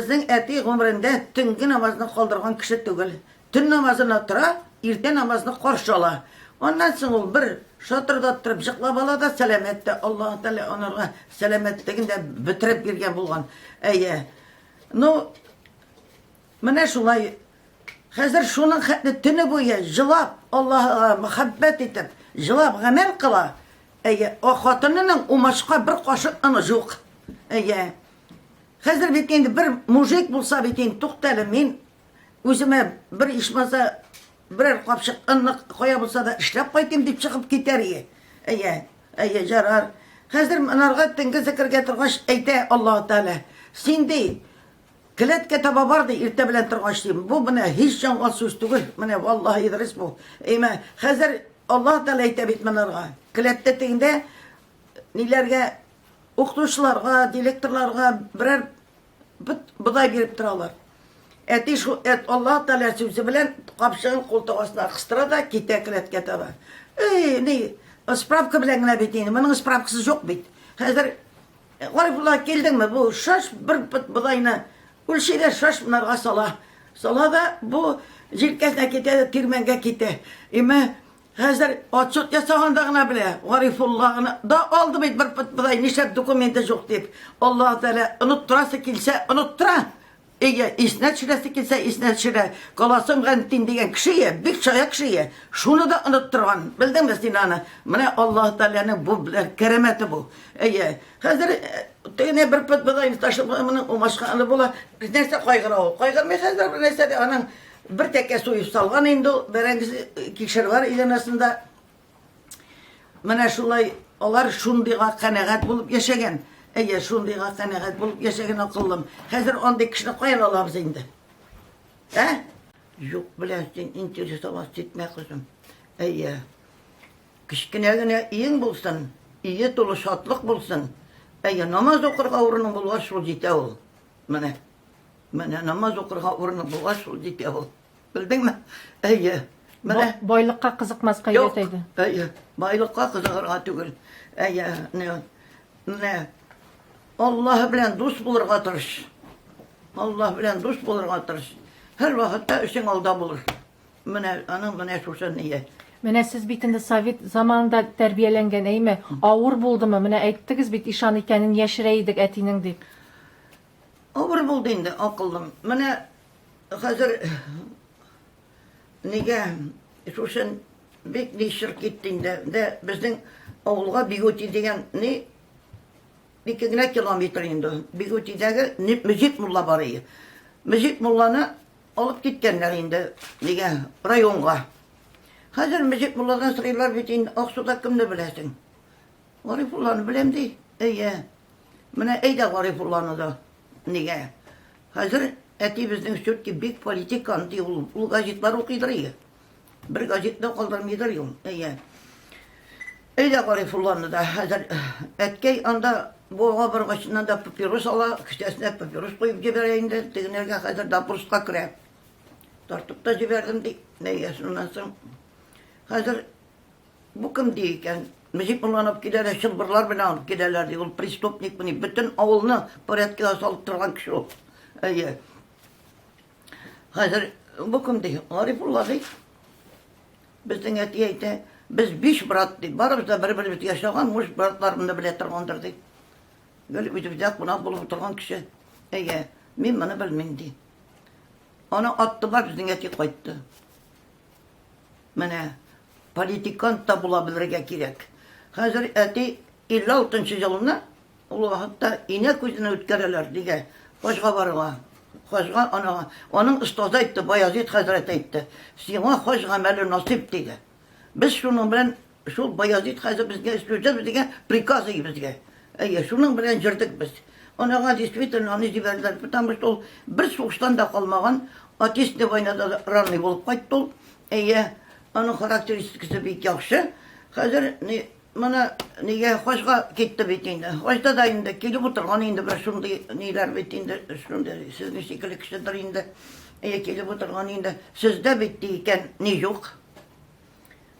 Безнең әти гомерендә төнге намазны калдырган кеше түгел. Төн намазына тора, иртә намазны каршы ала. Аннан соң ул бер шатырдап торып җыклап ала да, сәламәт тә. Аллаһы Тәгалә анарга сәламәтлеген дә бетереп биргән булган. Әйе. Ну, менә шулай. Хәзер шуның хәтле төне буе җылап, Аллаһыга мәхәббәт итеп, җылап гамәл кыла. Әйе, хатынының умачка бер кашык оны юк. Әйе. Хәзер бит инде бер мужик булса бит инде, туктале, мин үземә бер ишмаса берәр капчык ынлык кая булса да эшләп кайтыйм дип чыгып китәр ие. Әйе, әйе, җарар. Хәзер монарга төнге зекергә торгач әйтә Аллаһу Тәгалә, син ди, келәткә таба бар ди, иртә белән торгач ди. Бу менә һич җанга сүз түгел. Менә валлаһи Идрис бу. Әйме, хәзер Аллаһу Тәгалә әйтә бит монарга. Келәттә тегендә ниләргә укытучыларга, директорларга берәр бит бодай биреп торалар. Әти шул әт Аллаһ Тәгалә сүзе белән капчыгын култык астына кыстыра да китә келәткә таба. Эй, ни, справка белән генә бит инде. Моның справкасы юк бит. Хәзер э, Гарифулла килдеңме? Бу шаш бер бит бодайны үлчи дә шаш монарга сала. Сала да бу җилкәсенә китә дә тирмәнгә китә. Имә Хәзер отчет ясаганда гына белә, Гарифулланы да алды бит бер пытбыдай, нишләп документы жук дип. Аллаһы Тәгалә оныттырасы килсә, оныттыра. Әйе, исенә төшерәсе килсә, исенә төшерә. Каласым Гәнтин дигән кеше, бик чая кеше, шуны да оныттырган. Белдеңме син аны? Менә Аллаһы Тәгаләнең бу белән кәрамәте бу. Әйе, хәзер тегене бер пытбыдайны ташлап, моның умашканы була. Нәрсә кайгыра ул? Кайгырмый хәзер бернәрсә дә аның. Бер тәкә суеп салган инде ул бәрәңгесе кишервар иганәсендә. Менә шулай алар шундыйга канәгать булып яшәгән. Әйе, шундыйга канәгать булып яшәгән акыллым. Хәзер андый кешене каян алабыз инде? Ә? Юк белән син интересоваться итмә, кызым. Әйе. Кечкенә генә өең булсын, өе тулы шатлык булсын. Әйе, намаз укырга урының булгач, шул җитә ул. Менә, менә намаз укырга урыны була шул, дип ул. Белдеңме? Әйе. Менә байлыкка кызыкмаска өйрәтәйде. Әйе, байлыкка кызыгырга түгел. Әйе, менә Аллаһ белән дус булырга тырыш. Аллаһ белән дус булырга тырыш. Һәр вакытта өчен алда булыр. Менә аның менә шушы ние. Менә сез бит инде совет заманында тәрбияләнгән, әйме? Авыр булдымы? Менә әйттегез бит, ишан икәнен яшерә идек әтинең дип. Авыр булды инде, акыллым. Менә хәзер нигә шушен бик нишер китте инде. Дә безнең авылга Бигути дигән ни ике генә километр инде. Бигутидәге Мөҗип мулла бар иде. Мөҗип мулланы Алып киткәннәр инде, нигә, районга. Хәзер Мөҗек мулладан сорыйлар бит инде, Аксуда кемне беләсең? Гарифулланы беләм ди. Әйе. Менә әйдә Гарифулланы да. Нигә? Хәзер әти безнең все-таки бик политикан ди ул. Ул газетлар укыйдыр иде. Бер газетта калдырмыйдыр юл. Әйе. Әйдә Гарифулланы да хәзер әткәй анда буга баргачыннан да папирос ала, кесәсенә папирос куеп җибәрә инде, тегенергә хәзер допроска керә. Тартып та җибәрдем ди. Әйе, шуннан соң хәзер бу кем ди икән? Мөҗип улланып киләләр, чылбырлар белән алып киләләр ди. Ул преступник мени, бөтен авылны порядкага салып торган кеше ул. Әйе. Хәзер бу кем ди? Гарифулла ди. Безнең әти әйтә, без биш брат ди. Барыбыз да бер-беребез яшәгән, муж братларымны белә торгандыр ди. Гел үзебездә кунак булып утырган кеше. Әйе, мин моны белмим ди. Аны атты бар безнең әти кайтты. Менә политикант та була белергә кирәк. Хәзер әти 56 елына Ул вакытта инә күзенә үткәрәләр, диде хаҗга барырга. Хаҗга анага аның остазы әйтте, Баязит хәзрәт әйтте, сиңа хаҗ гамәле насыйп, диде. Без шуның белән шул Баязит хәзрәт безгә сүзебез дигән приказы безгә. Әйе, шуның белән җөрдек без. Анага действительно аны җибәрделәр, потому что ул бер сугыштан да калмаган, Отечественная войнада да ранный булып кайтты ул. Әйе, аның характеристикасы бик яхшы. Хәзер ни Моны нигә хачка китте бит инде. Хачта да инде килеп утырган инде бер шундый ниләр бит инде, шундый сезнең шикелле кешедер инде. Әйе, килеп утырган инде. Сездә бит ди икән, ни юк.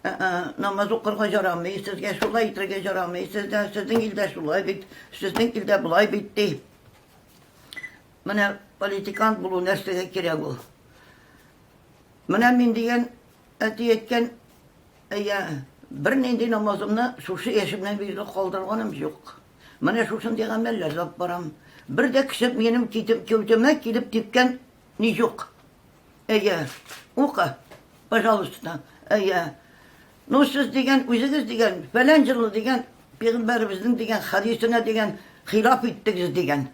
Намаз укырга ярамый, сезгә шулай итәргә ярамый, сездә, сезнең илдә шулай бит, сезнең илдә болай бит ди. Менә политикант булу нәрсәгә кирәк ул? Менә мин дигән әти әйткән Әйе, бернинди намазымны шушы яшемнән бирле калдырганым юк. Менә шушындый гамәлләр язып барам. Бер дә кеше минем кәүдәмә килеп типкән ни юк. Әйе, ука, пожалуйста. Әйе. Ну, сез дигән, үзегез дигән, фәлән җылы дигән, пигамбәребезнең дигән хадисенә дигән хилаф иттегез дигән.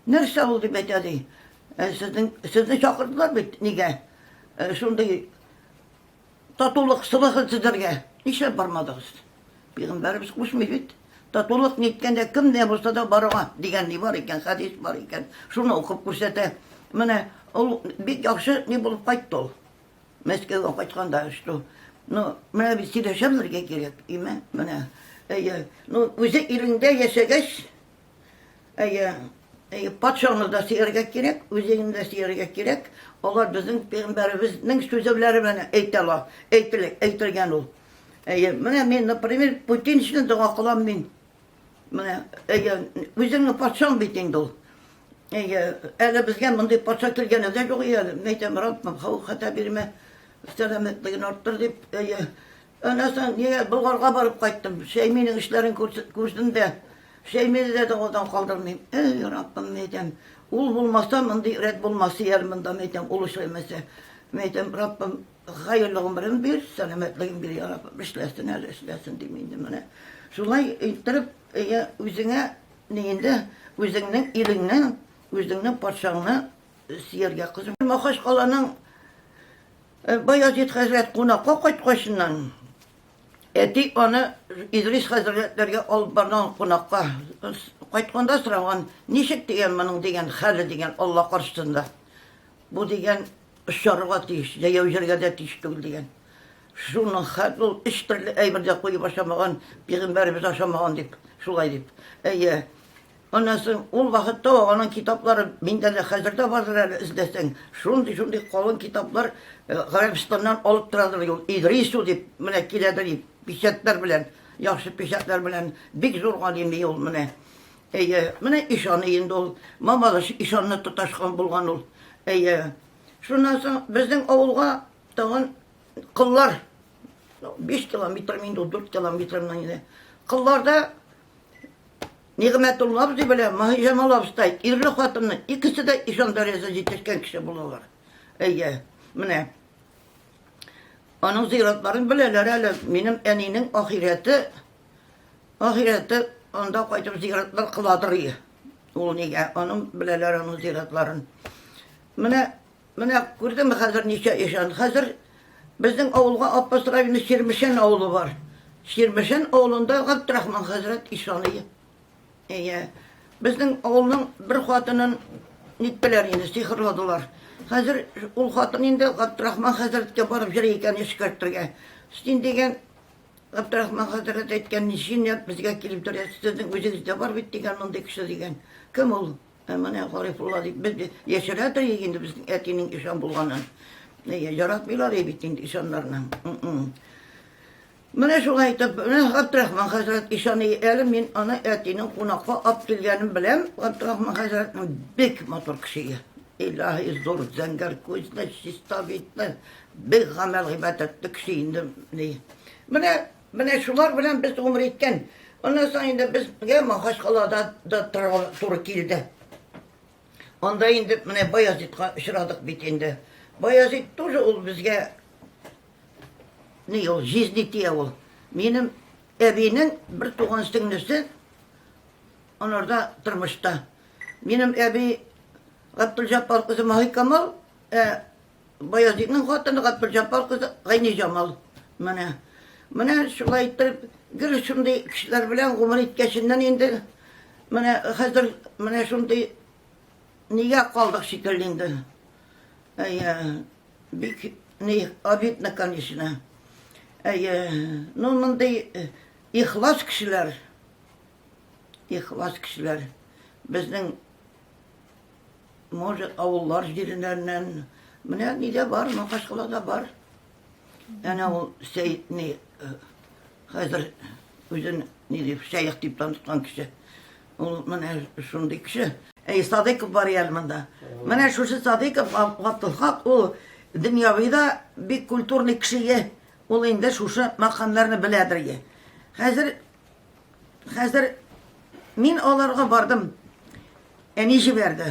Нәрсә ул дип әйтә ди. Сезнең сезне чакырдылар бит, нигә? Шундый Татулык сылыгын сезләргә нишләп бармадыгыз? Пигамбәребез кушмый бит. Татулык ниткәндә кем дә булса да баруга дигән ни бар икән, хәдис бар икән. Шуны укып күрсәтә. Менә ул бик яхшы ни булып кайтты ул. Мәскәүгә кайтканда что Ну, менә без сөйләшә белергә кирәк, име? Менә. Әйе. Ну, үзе иреңдә яшәгәч, Әйе, әйе, патшаны да сөяргә кирәк, үзеңне дә сөяргә кирәк. Алар безнең пәйгамбәребезнең сүзе белән әйтә ала, әйтелә, әйтелгән ул. Әйе, менә мин, например, Путин өчен дога кылам мин. Менә, әйе, үзеңне патшаң бит инде ул. Әйе, әле безгә мондый патша килгәне дә юк әле. Мәйтәм, Раббым, хау хата бирмә, сәламәтлеген арттыр дип, әйе, Аннан соң нигә Болгарга барып кайттым? Шәйминең эшләрен күрдем дә, Шәймине дә дәвадан калдырмыйм. Эй, Раббым, мәйтәм, ул булмаса, мондый рәт булмас ияр монда, мәйтәм, ул эшләмәсә. Мәйтәм, Раббым, хәерле гомерен бир, сәламәтлеген бир, я Раббым, эшләсен әле, эшләсен дим инде менә. Шулай иттереп, әйе, үзеңә ни инде, үзеңнең илеңне, үзеңнең патшаңны сөяргә кызым. Махачкаланың Баязит хәзрәт кунакка кайткачыннан, әти аны Идрис хәзрәтләргә алып барган кунакка. Кайтканда сораган, ничек дигән моның дигән хәле дигән Алла каршысында. Бу дигән очарга тиеш, җәяү җиргә дә тиеш түгел дигән. Шуның хәл ул өч төрле әйбер дә куеп ашамаган, пигамбәребез ашамаган дип, шулай дип. Әйе, Аннан соң, ул вакытта ук аның китаплары, миндә дә хәзер дә бардыр әле, эзләсәң, шундый-шундый калын китаплар Гарәбстаннан алып торадыр иде ул, Идрису дип, менә киләдер иде, печатьләр белән, яхшы печатьләр белән, бик зур галими ул менә. Әйе, менә ишаны инде ул, Мамадыш ишанны тоташкан булган ул. Әйе. Шуннан соң безнең авылга тагын кыллар, биш километрмы инде ул, дүрт километрмы инде, кылларда Нигъмәтулла абзый белән Маһиҗамал абыстай ирле хатынны икесе дә ишан дәрәҗәсенә җитешкән кеше булалар. Әйе, менә аның зыйратларын беләләр әле. Минем әнинең ахирәте ахирәте анда кайтып зыйратлар кыладыр. Ул нигә аның беләләр аның зыйратларын. Менә Менә күрдеңме хәзер ничә ишан? Хәзер безнең авылга Апас районы Чирмешән авылы бар. Чирмешән авылында Габдрахман хәзрәт ишаный. Әйе. Безнең авылның бер хатынын ниттеләр инде, сихырладылар. Хәзер ул хатын инде Габдрахман хәзрәткә барып җыр икән эшкәртергә. Син дигән Габдрахман хәзрәт әйткән, ничек безгә килеп торасыз, сезнең үзегездә бар бит дигән мондый кеше дигән. Кем ул? Ә менә Гарифулла дип безне яшерә дә инде безнең әтинең ишан булганын. Яратмыйлар бит инде ишаннарны. Менә шулай итеп, менә Габдрахман хәзрәт ишан әле мин аны әтинең кунакка алып килгәнен беләм. Габдрахман хәзрәтнең бик матур кеше. Илаһи зур зәңгәр күзле, чиста битле, бик гамәл гыйбадәтле кеше инде. Менә Менә шулар белән без гомер иткән. Аннан соң инде безгә Махачкалада да торырга туры килде. Анда инде менә Баязитка очрадык бит инде. Баязит тоже ул безгә ни ул җизни тия ул. Минем әбинең бер туган сеңлесе анарда тормышта. Минем әби Габдулҗаппар кызы Маһикамал, ә Баязитның хатыны Габделҗаппар кызы Гайниҗамал. Менә. Менә шулай итеп, гел шундый кешеләр белән гомер иткәченнән инде менә хәзер менә шундый нигә калдык шикелле инде. Әйе, бик ни обидно, конечно. Әйе, ну мондый э, ихлас кешеләр, ихлас кешеләр безнең Может, авыллар җиреннәреннән. Менә нидә бар, Макашкалада бар. Әнә ул Сәйд ни э, хәзер үзен ни дип шәех дип таныткан кеше. Ул менә шундый кеше. Әй, Садыйков бар әле монда. Менә шушы Садыйков Габдулхак ул дөньявида бик культурный кеше. Ул инде шушы макамнарны беләдер. Хәзер Хәзер мин аларга бардым. Әни җибәрде.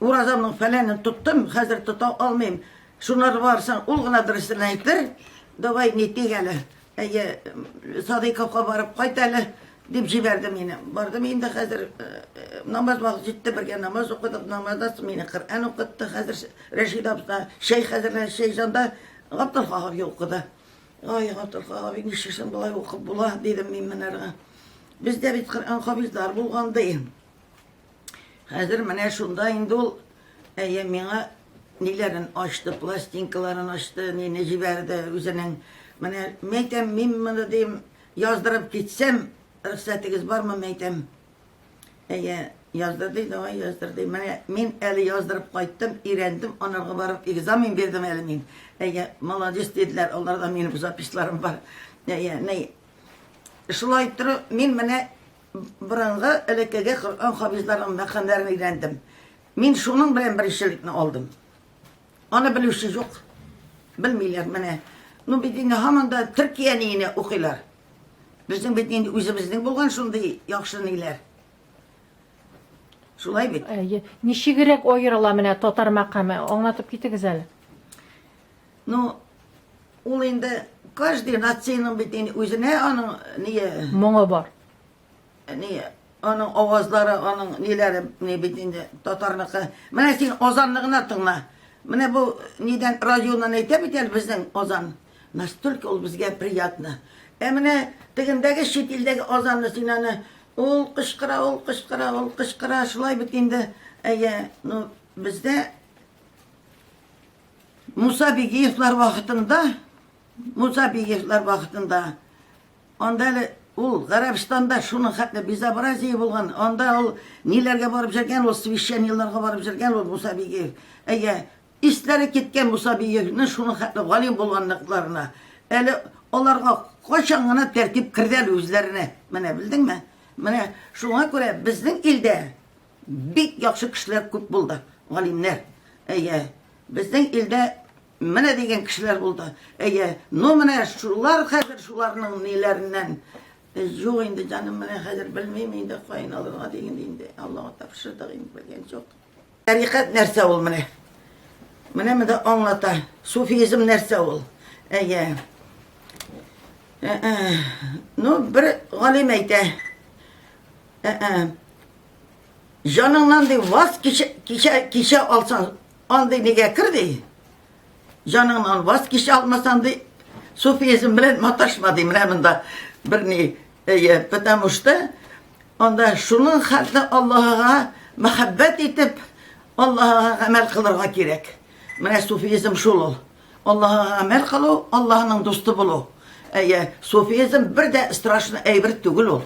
Уразамның фәләнен тоттым, хәзер тота алмыйм. Шунар барсаң, ул гына дөресен әйтер. Давай не тик әле. Әйе, Садыйковка барып кайт әле дип җибәрде мине. Бардым инде хәзер э, э, намаз вакыты җитте, бергә намаз укыдык. Намаздан соң мине Коръән укытты. Хәзер Рәшид абза, шәй хәзерләр, шәй жанда Габдулхаһов укыды. Ай, Гатырха абый, нишлисең, болай укып була, дидем мин Мөнәргә. Бездә бит Коръән хафизлар булган ди. Хәзер менә шунда инде ул әйе миңа ниләрен ачты, пластинкаларын ачты, нине җибәрде үзенең. Менә мәйтәм, мин моны дим, яздырып китсәм, рөхсәтегез бармы, мәйтәм. Әйе, яздыр ди, давай яздыр ди. Менә мин әле яздырып кайттым, өйрәндем, анарга барып экзамен бирдем әле мин. Әйе, молодец диделәр, аларда минем записьларым бар. Әйе, ни. Шулай тору, мин менә борынгы элеккеге Коръән хафизларының мәкамнәрен өйрәндем. Мин шуның белән беренчелекне алдым. Аны белүче юк. Белмиләр менә. Ну бит инде һаман да Төркия ниенә укыйлар. Безнең бит инде үзебезнең булган шундый яхшы ниләр. Шулай бит. Әйе. Ничегрәк аерыла менә татар мәкаме? Аңлатып китегез әле. Ну, ул инде каждый нациянең бит инде үзенә аның ние... Моңы бар. Ни, аның авазлары, аның ниләре, ни бит инде татарныкы. Менә син Озанны гына тыңла. Менә бу нидән радионан әйтә бит әле безнең Озан. Настолько ул безгә приятно. Ә менә тегендәге чит илдәге Озанны син аны ул кычкыра, ул кычкыра, ул кычкыра, шулай бит инде. Әйе, ну бездә Муса Бигиевлар вакытында, Муса Бигиевлар вакытында Анда әле ул Гарәбстанда шуның хәтле безобразие булган. Анда ул ниләргә барып җөргән, ул священникларга барып җөргән ул Муса Бигиев. Әйе, исләре киткән Муса Бигиевне шуның хәтле галим булганлыкларына. Әле аларга кайчан гына тәртип керде әле үзләренә. Менә белдеңме? Менә шуңа күрә безнең илдә бик яхшы кешеләр күп булды, галимнәр. Әйе, безнең илдә Менә дигән кешеләр булды. Әйе, ну менә шулар хәзер шуларның ниләреннән Юк инде, җаным, менә хәзер белмим инде, кайын алырга диген инде. Аллага тапшырдык инде, белгән юк. Тәрикат нәрсә ул менә? Менә менә аңлата. Суфизм нәрсә ул? Әйе. Э, э. Ну, бер галим әйтә. Э, Җаныңнан ди ваз кичә кичә алсаң, Андый нигә кер ди? Җаныңнан ваз кичә алмасаң ди, суфизм белән маташма ди. Менә монда бер ни, әйе, потому что анда шуның хәтле Аллаһыга мәхәббәт итеп, Аллаһыга гамәл кылырга кирәк. Менә суфизм шул ул. Аллаһыга гамәл кылу, Аллаһның дусты булу. Әйе, суфизм бер дә страшный әйбер түгел ул.